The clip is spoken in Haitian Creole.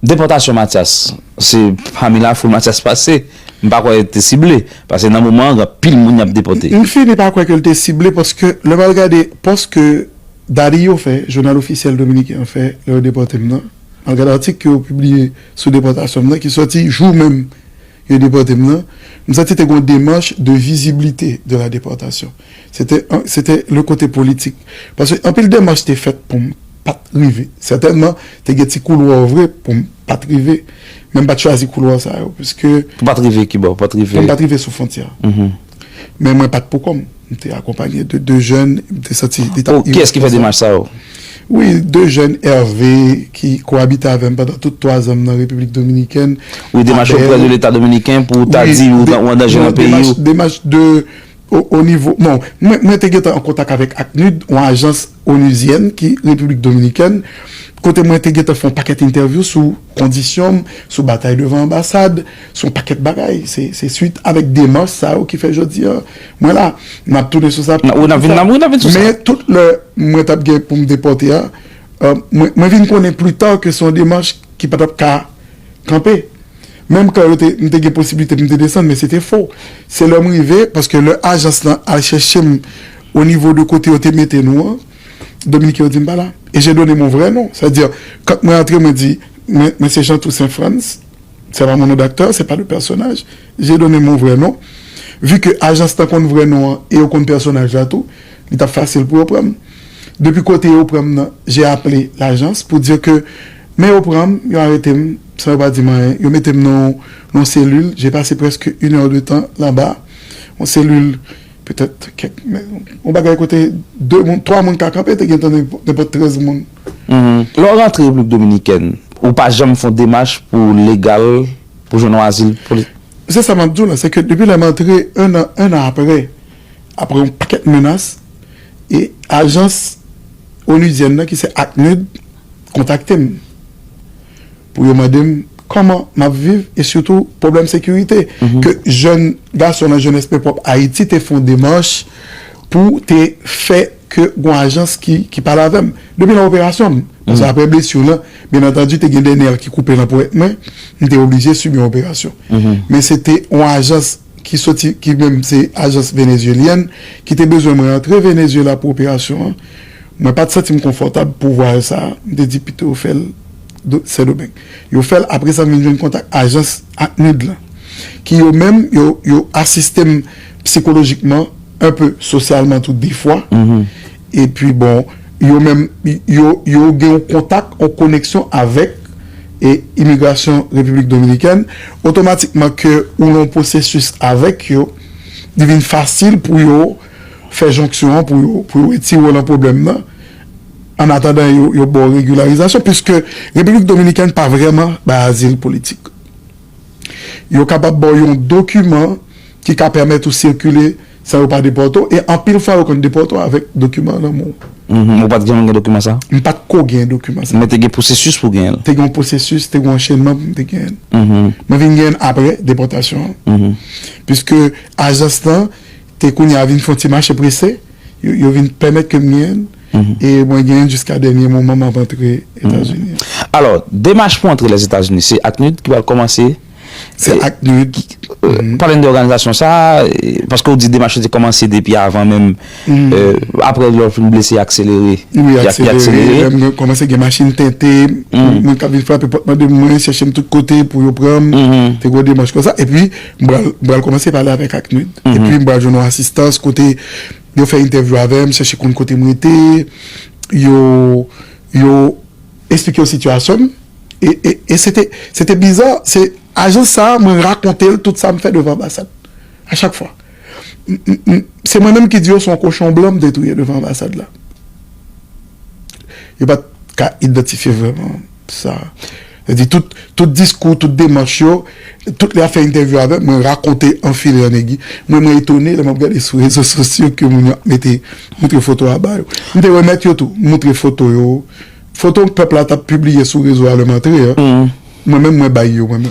Depòtasyon Matyas se pami lafoul Matyas pase, m pa kwè li te sible, pase nan moman an gen anpil moun y ap depòte. M fini pa kwè ke li te sible paske lè m al gade pòs ke Daddy yo fè, jounal ofisyèl dominiken an fè lè yo depòte m nan, m al gade atik ke yo pibliye sou depòtasyon m nan ki sòti jou menm yo depòte m nan, m santi te gen yon demach de visibilité de la déportation. se te le kote politik paske anpil demach te fèt pou m pa t rive sètènman te gen ti koulwa vre pou m pa t rive men m pa t chwazi koulwa sa yo piske Pou pa t rive ki bò? Pou m pa t rive sou fontyè a men mwen pa t poukò m m te akonpanye de 2 jèn m te santi li ta irèsponsab Kiyès ki fè demach sa yo? Wi 2 jèn Hervé ki koabite avè m pandan tout 3 zan m nan Repiblik Dominikèn Wi demach yo pran de leta dominiken pou ta di ou an danje nan peyi ou Demach de O nivo, bon, mwen te gentan an kontak avèk ACNUD, yon ajans onuzyèn ki Repiblik Dominikèn, kote mwen te gentan fè yon pakèt entèvyou sou kondisyon m, sou batay devan anbasad, sou yon pakèt bagay. Se swit avèk demach sa yo ki fè jodi a mwen la. N ap tounen sou sa pi tou. Men, tout lè mwen t ap gen pou m depòte a, mwen vin konnen pli ta ke se yon demach ki pa t ap ka. Kanpe. Menm kan yo te, m te gen posiblite pou m te desann, men se te fo. Se lè m rive, paske lè ajans lan al chèche m o nivo de kote yo te mete nou an, Dominiken yo di m pa la. E je done mon vrè non. Sa vle di, kan mwen antre, mwen di, mwen, mwen se Jean Toussaint Frantz, se pa mon nom d'acteur, se pa de personnage, je done mon vrè non. Vu ke ajans lan konn vrè non an e yo konn pèsonaj la tou, li t ap fasil pou yo pran m. Depi kote yo pran m nan, j'ai appelé l'agence pour dire que men yo pran m, yo arete m san yo pa di m anyen, yo mete m nan yon cellule, j'ai passé presque une heure de temps là-bas, yon cellule peut-être kèk, yon bagay kote 2 moun, 3 moun ka kanpe te gentan nenpòt 13 moun. Lè w rantre Repiblik Dominikèn, ou pa janm fè yon demach pou w legal, pou w jwenn yon azil politik? Se sa m ap di w la, se ke depi lè m antre, 1 an aprè, apre yon pakèt menas e ajans onudyèn nan ki se ACNUD kontakte m pou yo mande m kòman m ap viv e sitou pwoblèm sekirite ke jèn gason nan Jeunesse Paix Propre Haïti te fon demach pou te fè ke gon ajans ki pale avè m depi nan operasyon m paske apre blesi w lan byen antandi te gen de nè ki koupe nan powèt mwen m te oblije sibi yon operasyon men se te yon ajans ki soti ki menm se ajans venezyelyèn ki te bezwen mwen antre Venezyela pou operasyon an, mwen pa t santi m konfòtab pou vwayaj sa a, m te di pito yo fè l Sendomeng. Yo fè l, apre sa m vin jwenn kontak ajans ACNUD lan ki yo menm yo yo asiste m psikolojikman, enpe sosyalman tou defwa. Epi bon, yo menm, yo, yo gen yon kontak, yon koneksyon avèk e imigrasyon Repiblik Dominikèn, otomatikman ke ou lan yon pwosesis avèk yo, li vin fasil pou yo fè jonksyon an, pou yo, pou yo retire w lan pwoblèm nan, ann atandan yo, yo ba w regilarizasyon, piske Repiblik Dominikèn pa vrèman bay azil politik. Yo kapab ba w yon dokiman ki ka pèmèt ou sikile. San yo pa depòte w, e anpil fwa yo konn depòte w avèk dokiman nan men w. Uhmm. Ou pa t janm gen dokiman sa a? M pa t ko gen dokiman sa a. Men te gen pwosesis pou w genyen l? Te gen yon pwosesis, te gen yon anchenman pou m te genyen l. Uhmm. Mwen vin genyen l aprè depòtasyon an. Uhmm. Piske ajans lan te kounye a vin fè yon ti mache prese, yo vin pèmèt ke m genyen l. Uhmm. E mwen genyen l jiska dènye moman m ap antre Etazini an. Alò, demach pou antre Lèzetazini se ACNUD ki pral kòmanse Se ak nou yo ki. Pale n de òganizasyon sa a, paske ou di demach yo te kòmanse depi avan menm, aprè lè w fin blese y akselere. Wi y akselere, lè m kòmanse gen machin tente, moun k ap vin frape pòt mande mwen, chèche m tout kote pou yo pran m, te gwo demach kon sa. Epi m pral kòmanse pale avèk ACNUD, epi m pral jwenn yon asistans kote yo fè entèvyou avè m, chèche konn kote m rete, yo. Esplike yo sitiyasyon m e se te biza, se ajans sa a mwen rakonte l tout sa m fè devan anbasad a chak fwa. Se mwen menm ki di yo se yon kochon blan m te touye devan anbasad la. Yo pa t ka idantifye vrèman sa. Yo di tout diskou, tout demach yo, tout lè y ap fè entèvyou avè m, mwen rakonte anfile an egi. Mwen mwen etone lè m ap gade sou rezo sosyo ke moun yo ap mete montre foto a ba yo. M te remèt yo tou, m montre foto yo. Foto pèp la tap pibliye sou rezo a lèm antre an, mwen menm mwen bay yo mwen menm.